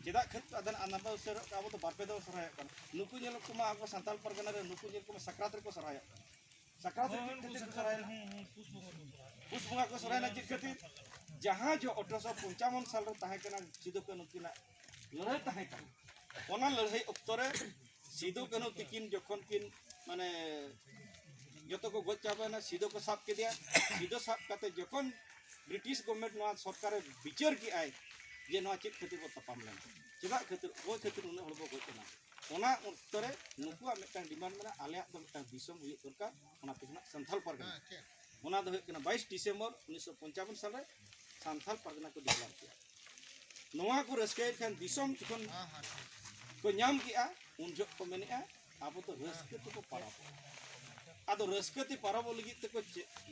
ᱪᱮᱫᱟᱜ ᱠᱷᱟᱹᱛ ᱟᱫᱟᱱ ᱟᱱᱟᱢᱟ ᱩᱥᱟᱹᱨᱚᱜ ᱠᱟᱱᱟ ᱟᱵᱚ ᱫᱚ ᱵᱟᱨᱯᱮ ᱫᱚ ᱥᱚᱨᱦᱟᱭᱚᱜ ᱠᱟᱱᱟ ᱱᱩᱠᱩ ᱧᱮᱞ ᱠᱚᱢᱟ ᱟᱵᱚ ᱥᱟᱱᱛᱟᱲ ᱯᱟᱨᱜᱟᱱᱟ ᱨᱮ ᱱᱩᱠᱩ ᱧᱮᱞ ᱠᱚᱢᱟ ᱥᱟᱠᱨᱟᱛ ᱨᱮᱠᱚ ᱥᱚᱨᱦᱟᱭᱚᱜ ᱠᱟᱱᱟ ᱥᱟᱠᱨᱟᱛ ᱨᱮ ᱪᱮᱫ ᱠᱷᱟᱹᱛᱤᱨ ᱠᱚ ᱥᱚᱨᱦᱟᱭᱮᱱᱟ ᱯᱩᱥ ᱵᱚᱸᱜᱟ ᱠᱚ ᱥᱚᱨᱦᱟᱭᱮᱱᱟ ᱪᱮᱫ ᱠᱷᱟᱹᱛᱤᱨ ᱡᱟᱦᱟᱸ ᱡᱚ ᱚᱴᱷᱨᱚᱥᱚ ᱯᱚᱧᱪᱟᱵᱚᱱ ᱥᱟᱞ ᱨᱮ ᱛᱟᱦᱮᱸ ᱠᱟᱱᱟ ᱥᱤᱫᱩ ᱠᱟᱹᱱᱩ ᱱᱩᱠᱤᱱᱟᱜ ᱞᱟᱹᱲᱦᱟᱹᱭ ᱛᱟᱦᱮᱸ ᱠᱟᱱᱟ ᱚᱱᱟ ᱞᱟᱹᱲᱦᱟᱹᱭ ᱚᱠᱛᱚ ᱨᱮ ᱥᱤᱫᱩ ᱠᱟᱹᱱᱦᱩ ᱛᱤᱠᱤᱱ ᱡᱚᱠᱷᱚᱱ ᱠᱤᱱ ᱢᱟᱱᱮ ᱡᱚᱛᱚ ᱠᱚ ᱜᱚᱡ ᱪᱟᱵᱟᱭᱮᱱᱟ ᱥᱤᱫᱩ ᱠᱚ ᱥᱟᱵ ᱠᱮᱫᱮᱭᱟ ᱥᱤᱫᱩ ᱥᱟᱵ ᱠᱟᱛᱮ ᱡᱚᱠᱷᱚᱱ ᱵᱨᱤᱴᱤᱥ ᱜᱚᱵᱷᱢᱮᱱᱴ ᱱᱚᱣᱟ ᱥᱚᱨᱠᱟᱨᱮ ᱵᱤᱪᱟᱹᱨ ᱠᱮᱜᱼᱟᱭ ᱡᱮ ᱱᱚᱣᱟ ᱪᱮᱫ ᱠᱷᱟᱹᱛᱤᱨ ᱵᱚ ᱛᱟᱯᱟᱢ ᱞᱮᱱᱟ ᱪᱮᱫᱟᱜ ᱠᱷᱟᱹᱛᱤᱨ ᱚᱠᱚᱭ ᱠᱷᱟᱹᱛᱤᱨ ᱩᱱᱟᱹᱜ ᱦᱚᱲ ᱵᱚ ᱜᱚᱡ ᱮᱱᱟ ᱚᱱᱟ ᱚᱠᱛᱚ ᱨᱮ ᱱᱩᱠᱩᱣᱟᱜ ᱢᱤᱫᱴᱟᱝ ᱰᱤᱢᱟᱱᱰ ᱢᱮᱱᱟᱜᱼᱟ ᱟᱞᱮᱭᱟᱜ ᱫᱚ ᱢᱤᱫᱴᱟᱝ ᱫᱤᱥᱚᱢ ᱦᱩᱭᱩᱜ ᱫᱚᱨᱠᱟᱨ ᱚᱱᱟ ᱛᱮᱜᱮ ᱱᱟᱜ ᱥᱟᱱᱛᱟᱞ ᱯᱟᱨᱜᱟᱱᱟ ᱚᱱᱟ ᱫᱚ ᱦᱩᱭᱩᱜ ᱠᱟᱱᱟ ᱵᱟᱭᱤᱥ ᱰᱤᱥᱮᱢᱵᱚᱨ ᱩᱱᱤᱥᱥᱚ ᱯᱚᱧᱪᱟᱵᱚᱱ ᱥᱟᱞᱨᱮ ᱥᱟᱱᱛᱟᱞ ᱯᱟᱨᱜᱟᱱᱟ ᱠᱚ ᱰᱮᱵᱷᱞᱚᱯ ᱠᱮᱫᱟ ᱱᱚᱣᱟ ᱠᱚ ᱨᱟᱹᱥᱠᱟᱹᱭᱮᱫ ᱠᱷᱟᱱ ᱫᱤᱥᱚᱢ ᱡᱚᱠᱷᱚᱱ ᱠᱚ ᱧᱟᱢ ᱠᱮᱫᱼᱟ ᱩᱱ ᱡᱚᱦᱚᱜ ᱠᱚ ᱢᱮᱱᱮᱫᱼᱟ ᱟᱵᱚ ᱫᱚ ᱨᱟᱹᱥᱠᱟᱹ ᱛᱮᱠᱚ ᱯᱟᱨᱟᱵᱚᱜᱼᱟ ᱟᱫᱚ ᱨᱟᱹᱥᱠᱟᱹ ᱛᱮ ᱯᱟᱨᱟᱵᱚᱜ ᱞᱟᱹᱜᱤᱫ ᱛᱮᱠᱚ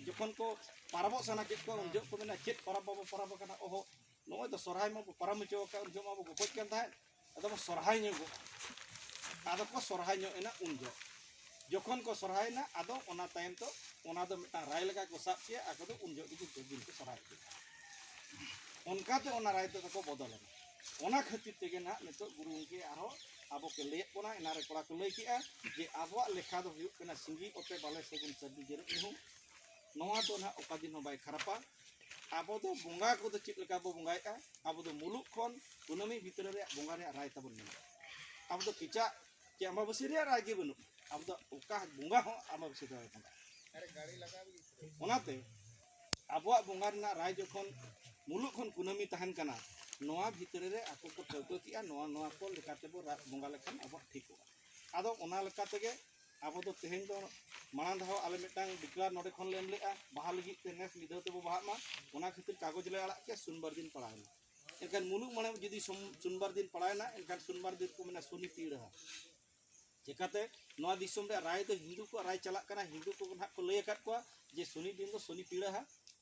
ᱡᱚᱠᱷᱚᱱ ᱠᱚ ᱯᱟᱨᱟᱵᱚᱜ ᱥᱟᱱᱟ ᱠᱮᱫ ᱠᱚᱣᱟ ᱩᱱ ᱡᱚᱦᱚᱜ ᱠᱚ ᱢᱮᱱᱟ ᱪᱮᱫ ᱯᱟᱨᱟᱵᱽ ᱵᱟᱵᱚ ᱯᱟᱨᱟᱵᱽ ᱟᱠᱟᱱᱟ ᱚᱦᱚ ᱱᱚᱜᱼᱚᱭ ᱫᱚ ᱥᱚᱨᱦᱟᱭ ᱢᱟᱵᱚ ᱯᱟᱨᱚᱢ ᱦᱚᱪᱚ ᱟᱠᱟᱫ ᱩᱱ ᱡᱚᱦᱚᱜ ᱢᱟᱵᱚ ᱜᱚᱯᱚᱡ ᱠᱟᱱ ᱛᱟᱦᱮᱸᱫ ᱟᱫᱚ ᱠᱚ ᱥᱚᱨᱦᱟᱭ ᱧᱚᱜᱚᱜᱼᱟ ᱟᱫᱚ ᱠᱚ ᱥᱚᱨᱦᱟᱭ ᱧᱚᱜ ᱮᱱᱟ ᱩᱱ ᱡᱚᱦᱚᱜ ᱡᱚᱠᱷᱚᱱ ᱠᱚ ᱥᱚᱨᱦᱟᱭᱮᱱᱟ ᱟᱫᱚ ᱚᱱᱟ ᱛᱟᱭᱚᱢ ᱫᱚ ᱚᱱᱟ ᱫᱚ ᱢᱤᱫᱴᱟᱝ ᱨᱟᱭ ᱞᱮᱠᱟ ᱠᱚ ᱥᱟᱵ ᱠᱮᱜᱼᱟ ᱟᱠᱚ ᱫᱚ ᱩᱱ ᱡᱚᱦᱚᱜ ᱜᱮ ᱡᱚᱛᱚ ᱫᱤᱱ ᱠᱚ ᱥᱚᱨᱦᱟᱭ ᱠᱮᱫᱟ ᱚᱱᱠᱟᱛᱮ ᱚᱱᱟ ᱨᱟᱭ ᱛᱮᱫᱚ ᱠᱚ ᱵᱚᱫᱚᱞᱮᱱᱟ ᱚᱱᱟ ᱠᱷᱟᱹᱛᱤᱨ ᱛᱮᱜᱮ ᱱᱟᱦᱟᱜ ᱱᱤᱛᱚᱜ ᱜᱩᱨᱩ ᱜᱚᱢᱠᱮ ᱟᱨᱦᱚᱸ ᱟᱵᱚ ᱠᱚ ᱞᱟᱹᱭᱮᱫ ᱵᱚᱱᱟ ᱮᱱᱟᱨᱮ ᱠᱚᱲᱟ ᱠᱚ ᱞᱟᱹᱭ ᱠᱮᱜᱼᱟ ᱡᱮ ᱟᱵᱚᱣᱟᱜ ᱞᱮᱠᱷᱟ ᱫᱚ ᱦᱩᱭᱩᱜ ᱠᱟᱱᱟ ᱥᱤᱸᱜᱤ ᱚᱛᱮ ᱵᱟᱞᱮ ᱥᱟᱹᱜᱩᱱ ᱥᱟᱹᱨᱫᱤ ᱡᱮᱨᱮᱫ ᱧᱩᱦᱩᱢ ᱱᱚᱣᱟ ᱫᱚ ᱱᱟᱦᱟᱜ ᱚᱠᱟ ᱫᱤᱱ ᱦᱚᱸ ᱵᱟᱭ ᱠᱷᱟᱨᱟᱯᱟ ᱟᱵᱚ ᱫᱚ ᱵᱚᱸᱜᱟ ᱠᱚᱫᱚ ᱪᱮᱫ ᱞᱮᱠᱟ ᱵᱚ ᱵᱚᱸᱜᱟᱭᱮᱫᱼᱟ ᱟᱵᱚ ᱫᱚ ᱢᱩᱞᱩᱜ ᱠᱷᱚᱱ ᱠᱩᱱᱟᱹᱢᱤ ᱵᱷᱤᱛᱨᱤ ᱨᱮᱭᱟᱜ ᱵᱚᱸᱜᱟ ᱨᱮᱭᱟᱜ ᱨᱟᱭ ᱛᱟᱵᱚᱱ ᱢᱮᱱᱟᱜᱼᱟ ᱟᱵᱚ ᱫᱚ ᱠᱮᱪᱟᱜ ᱪᱮ ᱟᱢᱵᱟᱵᱟᱹᱥᱭᱟᱹ ᱨᱮᱭᱟᱜ ᱨᱟᱭ ᱜᱮ ᱵᱟᱹᱱᱩᱜᱼᱟ ᱟᱵᱚ ᱫᱚ ᱚᱠᱟ ᱵᱚᱸᱜᱟ ᱦᱚᱸ ᱟᱢᱵᱟᱵᱟᱹᱥᱭᱟᱹ ᱫᱚ ᱵᱟᱭ ᱵᱚᱸᱜᱟᱜᱼᱟ ᱚᱱᱟᱛᱮ ᱟᱵᱚᱣᱟᱜ ᱵᱚᱸᱜᱟ ᱨᱮᱱᱟᱜ ᱨᱟᱭ ᱡᱚᱠᱷᱚᱱ ᱢᱩᱞᱩᱜ ᱠᱷᱚᱱ ᱠᱩᱱᱟᱹᱢᱤ ᱛᱟᱦᱮᱱ ᱠᱟᱱᱟ ᱱᱚᱣᱟ ᱵᱷᱤᱛᱨᱤ ᱨᱮ ᱟᱠᱚ ᱠᱚ ᱴᱷᱟᱹᱣᱠᱟᱹ ᱠᱮᱜᱼᱟ ᱱᱚᱣᱟ ᱱᱚᱣᱟ ᱠᱚ ᱞᱮᱠᱟᱛᱮ ᱵᱚ ᱵᱚᱸᱜᱟ ᱞᱮᱠᱷᱟᱱ ᱟᱵᱚᱣᱟᱜ ᱴᱷᱤᱠᱚᱜᱼᱟ ᱟᱫᱚ ᱚᱱᱟ ᱞᱮᱠᱟ ᱛᱮᱜᱮ ᱟᱵᱚ ᱫᱚ ᱛᱮᱦᱮᱧ ᱫᱚ ᱢᱟᱲᱟᱝ ᱫᱷᱟᱣ ᱟᱞᱮ ᱢᱤᱫᱴᱟᱝ ᱰᱤᱠᱞᱟᱨ ᱱᱚᱰᱮ ᱠᱷᱚᱱ ᱞᱮ ᱮᱢ ᱞᱮᱫᱼᱟ ᱵᱟᱦᱟ ᱞᱟᱹᱜᱤᱫ ᱛᱮ ᱱᱮᱥ ᱢᱤᱫ ᱫᱷᱟᱣ ᱛᱮᱵᱚ ᱵᱟᱦᱟᱜ ᱢᱟ ᱚᱱᱟ ᱠᱷᱟᱹᱛᱤᱨ ᱠᱟᱜᱚᱡᱽ ᱞᱮ ᱟᱲᱟᱜ ᱠᱮᱫᱼᱟ ᱥᱩᱱᱵᱟᱨ ᱫᱤᱱ ᱯᱟᱲᱟᱣᱮᱱᱟ ᱮᱱᱠᱷᱟᱱ ᱢᱩᱞᱩᱜ ᱢᱚᱬᱮ ᱡᱩᱫᱤ ᱥᱩᱱᱵᱟᱨ ᱫᱤᱱ ᱯᱟᱲᱟᱣᱮᱱᱟ ᱮᱱᱠᱷᱟᱱ ᱥᱩᱱᱵᱟᱨ ᱫᱤᱱ ᱠᱚ ᱢᱮᱱᱟ ᱥᱩᱱᱤ ᱯᱤᱲᱦᱟᱹ ᱪᱮᱠᱟᱛᱮ ᱱᱚᱣᱟ ᱫᱤᱥᱚᱢ ᱨᱮ ᱨᱟᱭ ᱫᱚ ᱦᱤᱱᱫᱩ ᱠᱚᱣᱟᱜ ᱨᱟᱭ ᱪᱟᱞᱟᱜ ᱠᱟᱱᱟ ᱦᱤᱱᱫᱩ ᱠᱚ ᱱᱟᱦᱟᱜ ᱠᱚ ᱞᱟᱹᱭ ᱟᱠᱟᱫ ᱠᱚᱣᱟ ᱡᱮ ᱥᱩᱱᱤ ᱫᱤᱱ ᱫᱚ ᱥᱩᱱᱤ ᱯᱤᱲᱦᱟᱹ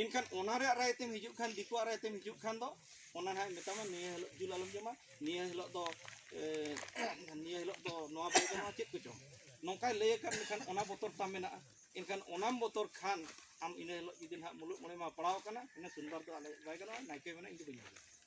ᱮᱱᱠᱷᱟᱱ ᱚᱱᱟ ᱨᱮᱭᱟᱜ ᱨᱟᱭ ᱛᱮᱢ ᱦᱤᱡᱩᱜ ᱠᱷᱟᱱ ᱫᱤᱠᱩᱣᱟᱜ ᱨᱟᱭ ᱛᱮᱢ ᱦᱤᱡᱩᱜ ᱠᱷᱟᱱ ᱫᱚ ᱚᱱᱟ ᱱᱟᱦᱟᱜ ᱢᱮᱛᱟᱢᱟ ᱱᱤᱭᱟᱹ ᱦᱤᱞᱳᱜ ᱡᱤᱞ ᱟᱞᱚᱢ ᱡᱚᱢᱟ ᱱᱤᱭᱟᱹ ᱦᱤᱞᱳᱜ ᱫᱚ ᱱᱤᱭᱟᱹ ᱦᱤᱞᱳᱜ ᱫᱚ ᱱᱚᱣᱟ ᱵᱟᱭ ᱜᱟᱱᱚᱜᱼᱟ ᱪᱮᱫ ᱠᱚᱪᱚᱝ ᱱᱚᱝᱠᱟᱭ ᱞᱟᱹᱭ ᱟᱠᱟᱫ ᱢᱮᱠᱷᱟᱱ ᱚᱱᱟ ᱵᱚᱛᱚᱨ ᱛᱟᱢ ᱢᱮᱱᱟᱜᱼᱟ ᱮᱱᱠᱷᱟᱱ ᱚᱱᱟᱢ ᱵᱚᱛᱚᱨ ᱠᱷᱟᱱ ᱟᱢ ᱤᱱᱟᱹ ᱦᱤᱞᱳᱜ ᱡᱩᱫᱤ ᱱᱟᱦᱟᱜ ᱢᱩᱞᱩᱜ ᱢᱚᱬᱮ ᱢᱟ ᱯᱟᱲᱟᱣ ᱠᱟᱱᱟ ᱤᱱᱟᱹ ᱥᱩᱱᱫᱚᱨ ᱫᱚ ᱟᱞᱮ ᱵᱟᱭ ᱜᱟᱱᱚᱜᱼᱟ ᱱᱟᱭᱠᱮ ᱢᱮᱱᱟ ᱤᱧ ᱫᱚ ᱵᱟᱹᱧ ᱦᱤᱡᱩᱜᱼᱟ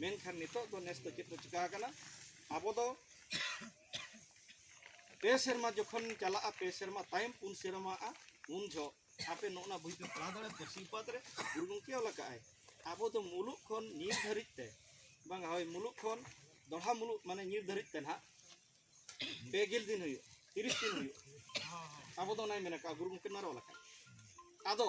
ᱢᱮᱱᱠᱷᱟᱱ ᱱᱤᱛᱚᱜ ᱫᱚ ᱱᱮᱥ ᱫᱚ ᱪᱮᱫ ᱠᱚ ᱪᱤᱠᱟ ᱟᱠᱟᱱᱟ ᱟᱵᱚ ᱫᱚ ᱯᱮ ᱥᱮᱨᱢᱟ ᱡᱚᱠᱷᱚᱱ ᱪᱟᱞᱟᱜᱼᱟ ᱯᱮ ᱥᱮᱨᱢᱟ ᱛᱟᱭᱚᱢ ᱯᱩᱱ ᱥᱮᱨᱢᱟᱜᱼᱟ ᱩᱱ ᱡᱚᱦᱚᱜ ᱟᱯᱮ ᱱᱚᱜᱼᱱᱟ ᱵᱳᱭ ᱯᱮ ᱯᱟᱲᱦᱟᱣ ᱫᱟᱲᱮᱭᱟᱜᱼᱟ ᱯᱟᱹᱨᱥᱤ ᱯᱟᱛ ᱨᱮ ᱜᱩᱨᱩ ᱜᱚᱢᱠᱮ ᱚᱞ ᱟᱠᱟᱫᱼᱟᱭ ᱟᱵᱚ ᱫᱚ ᱢᱩᱞᱩᱜ ᱠᱷᱚᱱ ᱧᱤᱨ ᱫᱷᱟᱹᱨᱤᱡ ᱛᱮ ᱵᱟᱝ ᱦᱳᱭ ᱢᱩᱞᱩᱜ ᱠᱷᱚᱱ ᱫᱚᱲᱦᱟ ᱢᱩᱞᱩᱜ ᱢᱟᱱᱮ ᱧᱤᱨ ᱫᱷᱟᱹᱨᱤᱡ ᱛᱮ ᱱᱟᱦᱟᱜ ᱯᱮ ᱜᱮᱞ ᱫᱤᱱ ᱦᱩᱭᱩᱜ ᱛᱤᱨᱤᱥ ᱫᱤᱱ ᱦᱩᱭᱩᱜ ᱟᱵᱚ ᱫᱚ ᱚᱱᱟᱭ ᱢᱮᱱ ᱟᱠᱟᱫᱼᱟ ᱜᱩᱨᱩ ᱜᱚᱢᱠᱮ ᱱᱚᱣᱟ ᱨᱮ ᱚᱞ ᱟᱠᱟᱫᱼᱟᱭ ᱟᱫᱚ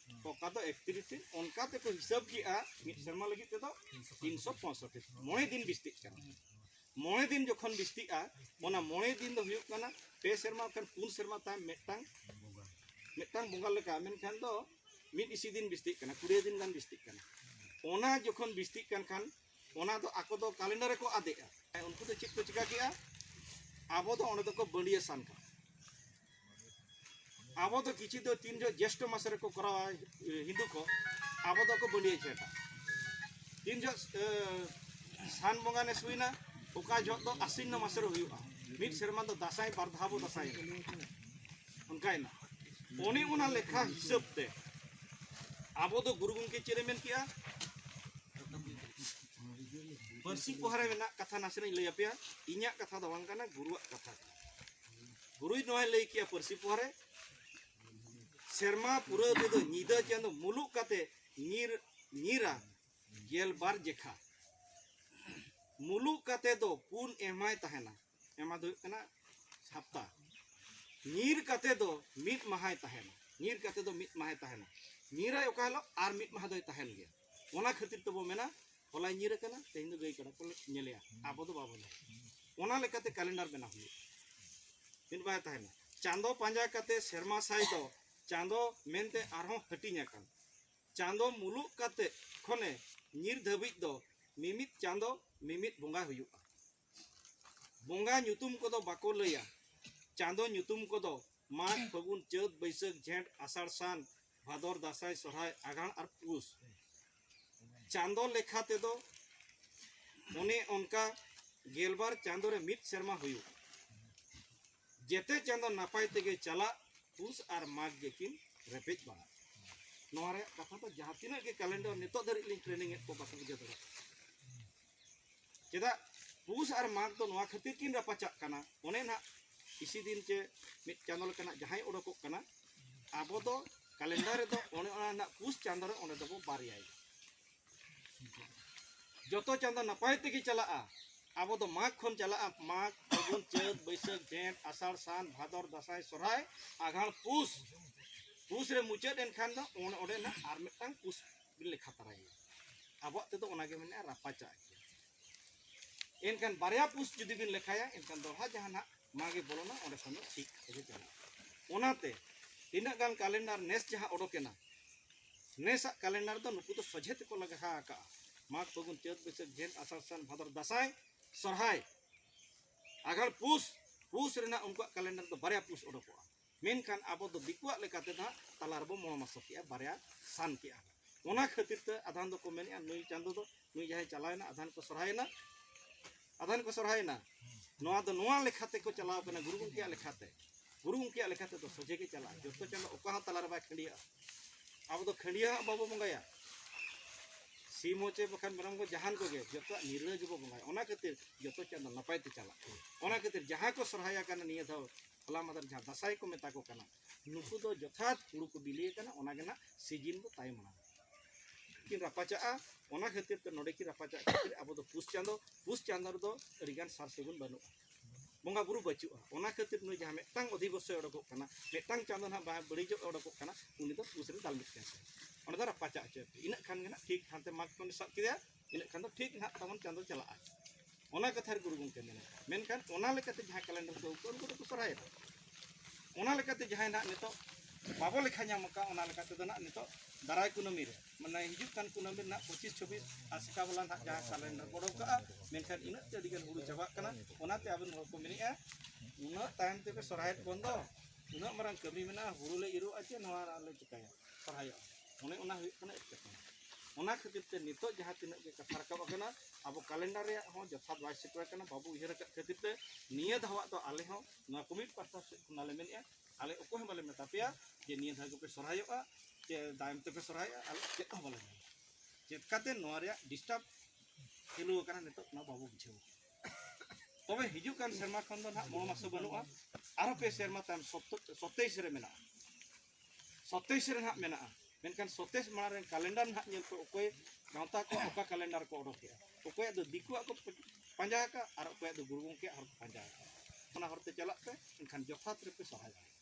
ᱚᱠᱟ ᱫᱚ ᱮᱠᱛᱨᱤᱥ ᱫᱤᱱ ᱚᱱᱠᱟ ᱛᱮᱠᱚ ᱦᱤᱥᱟᱹᱵ ᱠᱮᱜᱼᱟ ᱢᱤᱫ ᱥᱮᱨᱢᱟ ᱞᱟᱹᱜᱤᱫ ᱛᱮᱫᱚ ᱛᱤᱱᱥᱚ ᱯᱚᱸᱭᱥᱚᱴᱴᱤ ᱢᱚᱬᱮ ᱫᱤᱱ ᱵᱤᱥᱛᱤᱜ ᱠᱟᱱᱟ ᱢᱚᱬᱮ ᱫᱤᱱ ᱡᱚᱠᱷᱚᱱ ᱵᱤᱥᱛᱤᱜᱼᱟ ᱚᱱᱟ ᱢᱚᱬᱮ ᱫᱤᱱ ᱫᱚ ᱦᱩᱭᱩᱜ ᱠᱟᱱᱟ ᱯᱮ ᱥᱮᱨᱢᱟ ᱠᱷᱟᱱ ᱯᱩᱱ ᱥᱮᱨᱢᱟ ᱛᱟᱭᱚᱢ ᱢᱤᱫᱴᱟᱝ ᱢᱤᱫᱴᱟᱝ ᱵᱚᱸᱜᱟ ᱞᱮᱠᱟ ᱢᱮᱱᱠᱷᱟᱱ ᱫᱚ ᱢᱤᱫ ᱤᱥᱤ ᱫᱤᱱ ᱵᱤᱥᱛᱤᱜ ᱠᱟᱱᱟ ᱠᱩᱲᱤ ᱫᱤᱱ ᱜᱟᱱ ᱵᱤᱥᱛᱤᱜ ᱠᱟᱱᱟ ᱚᱱᱟ ᱡᱚᱠᱷᱚᱱ ᱵᱤᱥᱛᱤᱜ ᱠᱟᱱ ᱠᱷᱟᱱ ᱚᱱᱟ ᱫᱚ ᱟᱠᱚ ᱫᱚ ᱠᱟᱞᱮᱱᱰᱟᱨ ᱨᱮᱠᱚ ᱟᱫᱮᱜᱼᱟ ᱩᱱᱠᱩ ᱫᱚ ᱪᱮᱫ ᱠᱚ ᱪᱤᱠᱟ ᱠᱮᱜᱼᱟ ᱟᱵᱚ ᱫᱚ ᱚᱸᱰᱮ ᱫᱚᱠᱚ ᱵᱟᱹᱲᱤᱭᱟᱹ ᱥᱟᱱ ᱠᱟᱱᱟ ᱟᱵᱚ ᱫᱚ ᱠᱤᱪᱷᱩ ᱫᱚ ᱛᱤᱱ ᱡᱚᱦᱚᱜ ᱡᱮᱥᱴᱚ ᱢᱟᱥ ᱨᱮᱠᱚ ᱠᱚᱨᱟᱣᱟ ᱦᱤᱱᱫᱩ ᱠᱚ ᱟᱵᱚ ᱫᱚᱠᱚ ᱵᱟᱹᱲᱤᱭᱟᱹ ᱡᱷᱮᱸᱴᱟ ᱛᱤᱱ ᱡᱚᱦᱚᱜ ᱥᱟᱱ ᱵᱚᱸᱜᱟ ᱱᱮᱥ ᱦᱩᱭᱱᱟ ᱚᱠᱟ ᱡᱚᱦᱚᱜ ᱫᱚ ᱟᱥᱤᱱᱱᱚ ᱢᱟᱥ ᱨᱮ ᱦᱩᱭᱩᱜᱼᱟ ᱢᱤᱫ ᱥᱮᱨᱢᱟ ᱫᱚ ᱫᱟᱸᱥᱟᱭ ᱵᱟᱨ ᱫᱷᱟᱣ ᱵᱚ ᱫᱟᱸᱥᱟᱭᱮᱱᱟ ᱚᱱᱠᱟᱭᱮᱱᱟ ᱚᱱᱮ ᱚᱱᱟ ᱞᱮᱠᱷᱟ ᱦᱤᱥᱟᱹᱵ ᱛᱮ ᱟᱵᱚ ᱫᱚ ᱜᱩᱨᱩ ᱜᱚᱢᱠᱮ ᱪᱮᱫ ᱮ ᱢᱮᱱ ᱠᱮᱜᱼᱟ ᱯᱟᱹᱨᱥᱤ ᱯᱚᱦᱟᱨᱮ ᱢᱮᱱᱟᱜ ᱠᱟᱛᱷᱟ ᱱᱟᱥᱮᱱᱟᱜ ᱞᱟᱹᱭ ᱟᱯᱮᱭᱟ ᱤᱧᱟᱹᱜ ᱠᱟᱛᱷᱟ ᱫᱚ ᱵᱟᱝ ᱠᱟᱱᱟ ᱜᱩᱨᱩᱣᱟᱜ ᱠᱟᱛᱷᱟ ᱜᱩᱨᱩᱭ ᱱᱚᱣᱟᱭ ᱞᱟᱹᱭ ᱠᱮᱜᱼᱟ ᱯᱟᱹᱨᱥᱤ ᱯᱚᱦᱟᱨᱮ ᱥᱮᱨᱢᱟ ᱯᱩᱨᱟᱹᱣ ᱛᱮᱫᱚ ᱧᱤᱫᱟᱹ ᱪᱟᱸᱫᱚ ᱢᱩᱞᱩᱜ ᱠᱟᱛᱮ ᱧᱤᱨ ᱧᱤᱨᱟ ᱜᱮᱞᱵᱟᱨ ᱡᱮᱠᱷᱟ ᱢᱩᱞᱩᱜ ᱠᱟᱛᱮ ᱫᱚ ᱯᱩᱱ ᱮᱢᱟᱭ ᱛᱟᱦᱮᱱᱟ ᱮᱢᱟ ᱫᱚ ᱦᱩᱭᱩᱜ ᱠᱟᱱᱟ ᱦᱟᱯᱛᱟ ᱧᱤᱨ ᱠᱟᱛᱮ ᱫᱚ ᱢᱤᱫ ᱢᱟᱦᱟᱭ ᱛᱟᱦᱮᱱᱟ ᱧᱤᱨ ᱠᱟᱛᱮ ᱫᱚ ᱢᱤᱫ ᱢᱟᱦᱟᱭ ᱛᱟᱦᱮᱱᱟ ᱧᱤᱨᱟᱭ ᱚᱠᱟ ᱦᱤᱞᱳᱜ ᱟᱨ ᱢᱤᱫ ᱢᱟᱦᱟ ᱫᱚᱭ ᱛᱟᱦᱮᱱ ᱜᱮᱭᱟ ᱚᱱᱟ ᱠᱷᱟᱹᱛᱤᱨ ᱛᱮᱵᱚ ᱢᱮᱱᱟ ᱦᱚᱞᱟᱭ ᱧᱤᱨ ᱟᱠᱟᱱᱟ ᱛᱮᱦᱮᱧ ᱫᱚ ᱜᱟᱹᱭ ᱠᱟᱰᱟ ᱠᱚ ᱧᱮᱞᱮᱭᱟ ᱟᱵᱚ ᱫᱚ ᱵᱟᱵᱚ ᱧᱮᱞᱟ ᱚᱱᱟ ᱞᱮᱠᱟᱛᱮ ᱠᱮᱞᱮᱱᱰᱟᱨ ᱵᱮᱱᱟᱣ ᱦᱩᱭᱩᱜᱼᱟ ᱢᱤᱫ ᱵᱟᱭ ᱛᱟᱦᱮᱱᱟ ᱪᱟᱸᱫᱚ ᱯᱟᱸᱡᱟ ᱠᱟᱛᱮ ᱥᱮᱨᱢᱟ ᱥᱟᱭ ᱫᱚ ᱪᱟᱸᱫᱚ ᱢᱮᱱᱛᱮ ᱟᱨᱦᱚᱸ ᱦᱟᱹᱴᱤᱧ ᱟᱠᱟᱱ ᱪᱟᱸᱫᱚ ᱢᱩᱞᱩᱜ ᱠᱟᱛᱮ ᱠᱷᱚᱱᱮ ᱧᱤᱨ ᱫᱷᱟᱹᱵᱤᱡ ᱫᱚ ᱢᱤᱢᱤᱫ ᱪᱟᱸᱫᱚ ᱢᱤᱢᱤᱫ ᱵᱚᱸᱜᱟ ᱦᱩᱭᱩᱜᱼᱟ ᱵᱚᱸᱜᱟ ᱧᱩᱛᱩᱢ ᱠᱚᱫᱚ ᱵᱟᱠᱚ ᱞᱟᱹᱭᱟ ᱪᱟᱸᱫᱚ ᱧᱩᱛᱩᱢ ᱠᱚᱫᱚ ᱢᱟᱜᱽ ᱯᱷᱟᱹᱜᱩᱱ ᱪᱟᱹᱛ ᱵᱟᱹᱭᱥᱟᱹᱠᱷ ᱡᱷᱮᱸᱴ ᱟᱥᱟᱲ ᱥᱟᱱ ᱵᱷᱟᱫᱚᱨ ᱫᱟᱸᱥᱟᱭ ᱥᱚᱨᱦᱟᱭ ᱟᱜᱷᱟᱬ ᱟᱨ ᱯᱩᱥ ᱪᱟᱸᱫᱚ ᱞᱮᱠᱷᱟ ᱛᱮᱫᱚ ᱚᱱᱮ ᱚᱱᱠᱟ ᱜᱮᱞᱵᱟᱨ ᱪᱟᱸᱫᱚ ᱨᱮ ᱢᱤᱫ ᱥᱮᱨᱢᱟ ᱦᱩᱭᱩᱜ ᱡᱮᱛᱮ ᱪᱟᱸᱫᱚ ᱱᱟᱯᱟᱭ ᱛᱮᱜᱮ ᱪᱟᱞᱟᱜ ᱯᱩᱥ ᱟᱨ ᱢᱟᱜᱽ ᱜᱮᱠᱤᱱ ᱨᱮᱯᱮᱡ ᱵᱟᱲᱟᱜ ᱱᱚᱣᱟ ᱨᱮᱭᱟᱜ ᱠᱟᱛᱷᱟ ᱫᱚ ᱡᱟᱦᱟᱸ ᱛᱤᱱᱟᱹᱜ ᱜᱮ ᱠᱟᱞᱮᱱᱰᱚᱨ ᱱᱤᱛᱚᱜ ᱫᱷᱟᱹᱨᱤᱡ ᱞᱤᱧ ᱴᱨᱮᱱᱤᱝ ᱮᱫ ᱠᱚ ᱵᱟᱠᱚ ᱵᱩᱡᱷᱟᱹᱣ ᱫᱟᱲᱮᱭᱟᱜ ᱠᱟᱱᱟ ᱪᱮᱫᱟᱜ ᱯᱩᱥ ᱟᱨ ᱢᱟᱜᱽ ᱫᱚ ᱱᱚᱣᱟ ᱠᱷᱟᱹᱛᱤᱨ ᱠᱤᱱ ᱨᱟᱯᱟᱪᱟᱜ ᱠᱟᱱᱟ ᱚᱱᱮ ᱱᱟᱜ ᱤᱥᱤ ᱫᱤᱱ ᱪᱮ ᱢᱤᱫ ᱪᱟᱸᱫᱚ ᱞᱮᱠᱟᱱᱟᱜ ᱡᱟᱦᱟᱸᱭ ᱚᱰᱚᱠᱚᱜ ᱠᱟᱱᱟ ᱟᱵᱚ ᱫᱚ ᱠᱟᱞᱮᱱᱰᱟᱨ ᱨᱮᱫᱚ ᱚᱱᱮ ᱚᱱᱟ ᱱᱟᱜ ᱯᱩᱥ ᱪᱟᱸᱫᱚ ᱨᱮ ᱚᱸᱰᱮ ᱫᱚᱵᱚ ᱵᱟᱨᱭᱟᱭ ᱡᱚᱛᱚ ᱪᱟᱸᱫᱚ ᱱᱟᱯᱟᱭ ᱛᱮᱜᱮ ᱪᱟᱞᱟᱜᱼᱟ ᱟᱵᱚ ᱫᱚ ᱢᱟᱜᱽ ᱠᱷᱚᱱ ᱪᱟᱞᱟᱜᱼᱟ ᱢᱟᱜᱽ ᱯᱷᱟᱹᱜᱩᱱ ᱪᱟᱹᱛ ᱵᱟᱹᱭᱥᱟᱹᱠᱷ ᱡᱷᱮᱸᱴ ᱟᱥᱟᱲ ᱥᱟᱱ ᱵᱷᱟᱫᱚᱨ ᱫᱟᱸᱥᱟᱭ ᱥᱚᱨᱦᱟᱭ ᱟᱜᱷᱟᱬ ᱯᱩᱥ ᱯᱩᱥ ᱨᱮ ᱢᱩᱪᱟᱹᱫ ᱮᱱᱠᱷᱟᱱ ᱫᱚ ᱚᱸᱰᱮ ᱚᱸᱰᱮ ᱱᱟᱜ ᱟᱨ ᱢᱤᱫᱴᱟᱝ ᱯᱩᱥ ᱵᱤᱱ ᱞᱮᱠᱷᱟ ᱛᱟᱨᱟᱭᱮᱭᱟ ᱟᱵᱚᱣᱟᱜ ᱛᱮᱫᱚ ᱚᱱᱟᱜᱮ ᱢᱮᱱᱟᱜᱼᱟ ᱨᱟᱯᱟᱪᱟᱜ ᱜᱮᱭᱟ ᱮᱱᱠᱷᱟᱱ ᱵᱟᱨᱭᱟ ᱯᱩᱥ ᱡᱩᱫᱤ ᱵᱤᱱ ᱞᱮᱠᱷᱟᱭᱟ ᱮᱱᱠᱷᱟᱱ ᱫᱚᱦᱲᱟ ᱡᱟᱦᱟᱸ ᱱᱟᱜ ᱢᱟᱜᱮ ᱵᱚᱞᱚᱱᱟ ᱚᱸᱰᱮ ᱠᱷᱚᱱ ᱫᱚ ᱴᱷᱤᱠ ᱛᱮᱜᱮ ᱪᱟᱞᱟᱜᱼᱟ ᱚᱱᱟᱛᱮ ᱛᱤᱱᱟᱹᱜ ᱜᱟᱱ ᱠᱟᱞᱮᱱᱰᱟᱨ ᱱᱮᱥ ᱡᱟᱦᱟᱸ ᱚᱰᱚᱠᱮᱱᱟ ᱱᱮᱥᱟᱜ ᱠᱟᱞᱮᱱᱰᱟᱨ ᱫᱚ ᱱᱩᱠᱩ ᱫᱚ ᱥᱚᱡᱷᱮ ᱛᱮᱠᱚ ᱞᱟᱜᱟ ᱟᱠᱟᱜᱼᱟ ᱢᱟᱜᱽ ᱯᱷᱟᱹᱜᱩᱱ ᱪᱟᱹᱛ ᱵᱟᱹᱭᱥᱟᱹᱠᱷ ᱡᱷᱮᱸᱴ ᱟᱥᱟᱲ ᱥᱟᱱ ᱵᱷᱟᱫᱚᱨ ᱫᱟᱸᱥᱟᱭ ᱥᱚᱨᱦᱟᱭ ᱟᱜᱷᱟᱲ ᱯᱩᱥ ᱯᱩᱥ ᱨᱮᱱᱟᱜ ᱩᱱᱠᱩᱣᱟᱜ ᱠᱟᱞᱮᱱᱰᱟᱨ ᱫᱚ ᱵᱟᱨᱭᱟ ᱯᱩᱥ ᱚᱰᱚᱠᱚᱜᱼᱟ ᱢᱮᱱᱠᱷᱟᱱ ᱟᱵᱚ ᱫᱚ ᱫᱤᱠᱩᱣᱟᱜ ᱞᱮᱠᱟᱛᱮ ᱫᱚ ᱦᱟᱸᱜ ᱛᱟᱞᱟ ᱨᱮᱵᱚ ᱢᱚᱬ ᱢᱟᱥᱚ ᱠᱮᱜᱼᱟ ᱵᱟᱨᱭᱟ ᱥᱟᱱ ᱠᱮᱜᱼᱟ ᱚᱱᱟ ᱠᱷᱟᱹᱛᱤᱨ ᱛᱮ ᱟᱫᱷᱟᱱ ᱫᱚᱠᱚ ᱢᱮᱱᱮᱜᱼᱟ ᱱᱩᱭ ᱪᱟᱸᱫᱚ ᱫᱚ ᱱᱩᱭ ᱡᱟᱦᱟᱸᱭ ᱪᱟᱞᱟᱣᱮᱱᱟ ᱟᱫᱷᱟᱱ ᱠᱚ ᱥᱚᱨᱦᱟᱭᱮᱱᱟ ᱟᱫᱷᱟᱱ ᱠᱚ ᱥᱚᱨᱦᱟᱭᱮᱱᱟ ᱱᱚᱣᱟ ᱫᱚ ᱱᱚᱣᱟ ᱞᱮᱠᱷᱟ ᱛᱮᱠᱚ ᱪᱟᱞᱟᱣ ᱠᱟᱱᱟ ᱜᱩᱨᱩ ᱜᱚᱢᱠᱮᱭᱟᱜ ᱞᱮᱠᱷᱟᱛᱮ ᱜᱩᱨᱩ ᱜᱚᱢᱠᱮᱭᱟᱜ ᱞᱮᱠᱷᱟ ᱛᱮᱫᱚ ᱥᱚᱡᱷᱮ ᱜᱮ ᱪᱟᱞᱟᱜᱼᱟ ᱡᱚᱛᱚ ᱪᱟᱸᱫᱚ ᱚᱠᱟ ᱦᱚᱸ ᱛᱟᱞᱟ ᱨᱮ ᱵᱟᱭ ᱠᱷᱟᱹᱰᱤᱭᱟᱜᱼᱟ ᱟᱵᱚ ᱫᱚ ᱠᱷᱟᱹᱰᱤᱭᱟᱹ ᱦᱟᱸᱜ ᱵᱟᱵᱚ ᱵᱚᱸᱜᱟᱭᱟ ᱥᱤᱢ ᱦᱚᱪᱮ ᱵᱟᱠᱷᱟᱱ ᱢᱮᱨᱚᱢ ᱠᱚ ᱡᱟᱦᱟᱱ ᱠᱚᱜᱮ ᱡᱚᱛᱚᱣᱟᱜ ᱱᱤᱨᱞᱟᱹ ᱜᱮᱵᱚ ᱵᱚᱸᱜᱟᱭᱟ ᱚᱱᱟ ᱠᱷᱟᱹᱛᱤᱨ ᱡᱚᱛᱚ ᱪᱟᱸᱫᱚ ᱱᱟᱯᱟᱭ ᱛᱮ ᱪᱟᱞᱟᱜ ᱚᱱᱟ ᱠᱷᱟᱹᱛᱤᱨ ᱡᱟᱦᱟᱸ ᱠᱚ ᱥᱚᱨᱦᱟᱭᱟ ᱠᱟᱱᱟ ᱱᱤᱭᱟᱹ ᱫᱷᱟᱣ ᱦᱚᱞᱟ ᱢᱟᱫᱷᱮᱨ ᱡᱟᱦᱟᱸ ᱫᱟᱥᱟᱭ ᱠᱚ ᱢᱮᱛᱟ ᱠᱚ ᱠᱟᱱᱟ ᱱᱩᱠᱩ ᱫᱚ ᱡᱚᱛᱷᱟᱛ ᱦᱩᱲᱩ ᱠᱚ ᱵᱤᱞᱤ ᱟᱠᱟᱱᱟ ᱚᱱᱟ ᱜᱮ ᱱᱟᱜ ᱥᱤᱡᱤᱱ ᱫᱚ ᱛᱟᱭᱚᱢ ᱢᱟᱲᱟᱝ ᱠᱤᱱ ᱨᱟᱯᱟᱪᱟᱜᱼᱟ ᱚᱱᱟ ᱠᱷᱟᱹᱛᱤᱨ ᱛᱮ ᱱᱚᱰᱮ ᱠᱤᱱ ᱨᱟᱯᱟᱪᱟᱜ ᱠᱷᱟᱹᱛᱤᱨ ᱟᱵᱚ ᱫᱚ ᱯᱩᱥ ᱪᱟᱸᱫᱚ ᱯᱩᱥ ᱪᱟᱸᱫᱚ ᱨᱮᱫᱚ ᱟᱹᱰᱤ ᱜᱟᱱ ᱥᱟᱨ ᱥᱟᱹᱜᱩᱱ ᱵᱟᱹᱱᱩᱜᱼᱟ ᱵᱚᱸᱜᱟ ᱵᱩᱨᱩ ᱵᱟᱹᱪᱩᱜᱼᱟ ᱚᱱᱟ ᱠᱷᱟᱹᱛᱤᱨ ᱱᱩᱭ ᱡᱟᱦᱟᱸ ᱢᱤᱫᱴᱟᱝ ᱚᱫᱷᱤᱵᱚᱥᱚᱭ ᱚᱰᱚᱠᱚᱜ ᱠᱟᱱᱟ ᱢᱤᱫᱴᱟᱝ ᱪᱟᱸᱫᱚ ᱱᱟᱜ ᱵᱟᱭ ᱵᱟᱹᱲᱤᱡᱚᱜ ᱚᱰᱚᱠᱚᱜ ᱠᱟᱱᱟ ᱩᱱᱤ ᱫᱚ ᱯᱩᱥ ᱨᱮ ᱫᱟᱞ ᱢᱤᱫ ᱠᱟᱱ ᱚᱱᱟ ᱫᱚ ᱨᱟᱯᱟᱪᱟᱜ ᱦᱚᱪᱚᱭ ᱤᱱᱟᱹᱜ ᱠᱷᱟᱱ ᱜᱮ ᱱᱟᱜ ᱴᱷᱤᱠ ᱦᱟᱱᱛᱮ ᱢᱟᱜᱽ ᱠᱷᱚᱱ ᱥᱟᱵ ᱠᱮᱫᱮᱭᱟ ᱤᱱᱟᱹᱜ ᱠᱷᱟᱱ ᱫᱚ ᱴᱷᱤᱠ ᱱᱟᱦᱟᱜ ᱛᱟᱵᱚᱱ ᱪᱟᱸᱫᱚ ᱪᱟᱞᱟᱜᱼᱟ ᱚᱱᱟ ᱠᱟᱛᱷᱟ ᱨᱮ ᱜᱩᱨᱩ ᱜᱚᱢᱠᱮ ᱢᱮᱱᱟ ᱢᱮᱱᱠᱷᱟᱱ ᱚᱱᱟ ᱞᱮᱠᱟᱛᱮ ᱡᱟᱦᱟᱸ ᱠᱮᱞᱮᱱᱰᱟᱨ ᱠᱚ ᱟᱹᱜᱩ ᱩᱱᱠᱩ ᱫᱚᱠᱚ ᱥᱚᱨᱦᱟᱭᱮᱫᱟ ᱚᱱᱟ ᱞᱮᱠᱟᱛᱮ ᱡᱟᱦᱟᱸᱭ ᱱᱟᱦᱟᱜ ᱱᱤᱛᱚᱜ ᱵᱟᱵᱚ ᱞᱮᱠᱷᱟ ᱧᱟᱢ ᱟᱠᱟᱫ ᱚᱱᱟ ᱞᱮᱠᱟᱛᱮ ᱫᱚ ᱱᱟᱦᱟᱜ ᱱᱤᱛᱚᱜ ᱫᱟᱨᱟᱭ ᱠᱩᱱᱟᱹᱢᱤ ᱨᱮ ᱢᱟᱱᱮ ᱦᱤᱡᱩᱜ ᱠᱟᱱ ᱠᱩᱱᱟᱹᱢᱤ ᱨᱮᱱᱟᱜ ᱯᱚᱸᱪᱤᱥ ᱪᱷᱚᱵᱵᱤᱥ ᱟᱥᱮᱠᱟ ᱵᱟᱞᱟ ᱱᱟᱦᱟᱜ ᱡᱟᱦᱟᱸ ᱠᱮᱞᱮᱱᱰᱟᱨ ᱠᱚ ᱚᱰᱚᱠ ᱠᱟᱜᱼᱟ ᱢᱮᱱᱠᱷᱟᱱ ᱤᱱᱟᱹᱜ ᱛᱮ ᱟᱹᱰᱤᱜᱟᱱ ᱦᱩᱲᱩ ᱪᱟᱵᱟᱜ ᱠᱟᱱᱟ ᱚᱱᱟᱛᱮ ᱟᱵᱮᱱ ᱦᱚᱲ ᱠᱚ ᱢᱮᱱᱮᱜᱼᱟ ᱩᱱᱟᱹᱜ ᱛᱟᱭᱚᱢ ᱛᱮᱯᱮ ᱥᱚᱨᱦᱟᱭᱮᱫ ᱵᱚᱱ ᱫᱚ ᱩᱱᱟᱹᱜ ᱢᱟᱨᱟᱝ ᱠᱟᱹᱢᱤ ᱢᱮᱱᱟᱜᱼᱟ ᱦᱩᱲᱩ ᱞᱮ ᱤᱨᱚᱜᱼᱟ ᱪᱮ ᱱᱚᱣᱟ ᱞᱮ ᱪᱤᱠᱟᱹᱭᱟ ᱥᱚᱨᱦᱟᱭᱚᱜᱼᱟ ᱚᱱᱮ ᱚᱱᱟ ᱦᱩᱭᱩᱜ ᱠᱟᱱᱟ ᱮᱴᱠᱮᱴᱚᱬᱮ ᱚᱱᱟ ᱠᱷᱟᱹᱛᱤᱨ ᱛᱮ ᱱᱤᱛᱚᱜ ᱡᱟᱦᱟᱸ ᱛᱤᱱᱟᱹᱜ ᱜᱮ ᱠᱟᱛᱷᱟ ᱨᱟᱠᱟᱵ ᱟᱠᱟᱱᱟ ᱟᱵᱚ ᱠᱟᱞᱮᱱᱰᱟᱨ ᱨᱮᱭᱟᱜ ᱦᱚᱸ ᱡᱚᱛᱷᱟᱛ ᱵᱟᱭ ᱥᱮᱴᱮᱨ ᱟᱠᱟᱱᱟ ᱵᱟᱵᱚ ᱩᱭᱦᱟᱹᱨ ᱟᱠᱟᱫ ᱠᱷᱟᱹᱛᱤᱨ ᱛᱮ ᱱᱤᱭᱟᱹ ᱫᱷᱟᱣᱟᱜ ᱫᱚ ᱟᱞᱮ ᱦᱚᱸ ᱱᱚᱣᱟ ᱠᱚᱢᱤᱴ ᱯᱟᱥᱴᱟ ᱥᱮᱫ ᱠᱷᱚᱱᱟᱜ ᱞᱮ ᱢᱮᱱᱮᱫᱼᱟ ᱟᱞᱮ ᱚᱠᱚᱭ ᱦᱚᱸ ᱵᱟᱞᱮ ᱢᱮᱛᱟ ᱯᱮᱭᱟ ᱡᱮ ᱱᱤᱭᱟᱹ ᱫᱷᱟᱣ ᱜᱮᱯᱮ ᱥᱚᱨᱦᱟᱭᱚᱜᱼᱟ ᱥᱮ ᱛᱟᱭᱚᱢ ᱛᱮᱯᱮ ᱥᱚᱨᱦᱟᱭᱚᱜᱼᱟ ᱟᱞᱮ ᱪᱮᱫ ᱦᱚᱸ ᱵᱟᱞᱮ ᱢᱮᱱᱟ ᱪᱮᱫ ᱠᱟᱛᱮ ᱱᱚᱣᱟ ᱨᱮᱭᱟᱜ ᱰᱤᱥᱴᱟᱨᱵ ᱪᱟᱹᱞᱩ ᱟᱠᱟᱱᱟ ᱱᱤᱛᱚᱜ ᱚᱱᱟ ᱵᱟᱵᱚ ᱵᱩᱡᱷᱟᱹᱣ ᱛᱚᱵᱮ ᱦᱤᱡᱩᱜ ᱠᱟᱱ ᱥᱮᱨᱢᱟ ᱠᱷᱚᱱ ᱫᱚ ᱱᱟᱦᱟᱜ ᱢᱚᱬᱮ ᱢᱟᱥ ᱫᱚ ᱵᱟᱹᱱᱩᱜᱼᱟ ᱟᱨᱦᱚᱸ ᱯᱮ ᱥᱮᱨᱢᱟ ᱛᱟᱭᱚᱢ ᱥᱚᱛᱮᱭᱤᱥ ᱨᱮ ᱢᱮᱱᱟᱜᱼᱟ ᱥᱚᱛᱮᱥ ᱨᱮ ᱱᱟᱦᱟᱜ ᱢᱮᱱᱟᱜᱼᱟ ᱢᱮᱱᱠᱷᱟᱱ ᱥᱚᱛᱮᱥ ᱢᱟᱲᱟᱝ ᱨᱮ ᱠᱟᱞᱮᱱᱰᱟᱨ ᱱᱟᱦᱟᱜ ᱧᱮᱞ ᱯᱮ ᱚᱠᱚᱭ ᱜᱟᱶᱛᱟ ᱠᱚ ᱚᱠᱟ ᱠᱟᱞᱮᱱᱰᱟᱨ ᱠᱚ ᱚᱰᱚᱠᱮᱜᱼᱟ ᱚᱠᱚᱭᱟᱜ ᱫᱚ ᱫᱤᱠᱩᱣᱟᱜ ᱠᱚ ᱯᱟᱸᱡᱟ ᱟᱠᱟᱫ ᱟᱨ ᱚᱠᱚᱭᱟᱜ ᱫᱚ ᱜᱩᱨᱩ ᱜᱚᱢᱠᱮᱭᱟᱜ ᱦᱚᱨ ᱠᱚ ᱯᱟᱸᱡᱟ ᱟᱠᱟᱫ ᱚᱱᱟ ᱦᱚᱨᱛᱮ ᱪᱟᱞᱟᱜ ᱯᱮ ᱮᱱᱠᱷᱟᱱ ᱡᱚᱛᱷᱟᱛ ᱨᱮᱯᱮ ᱥᱚᱨᱦᱟᱭ ᱫᱟᱲᱮᱭᱟᱜᱼᱟ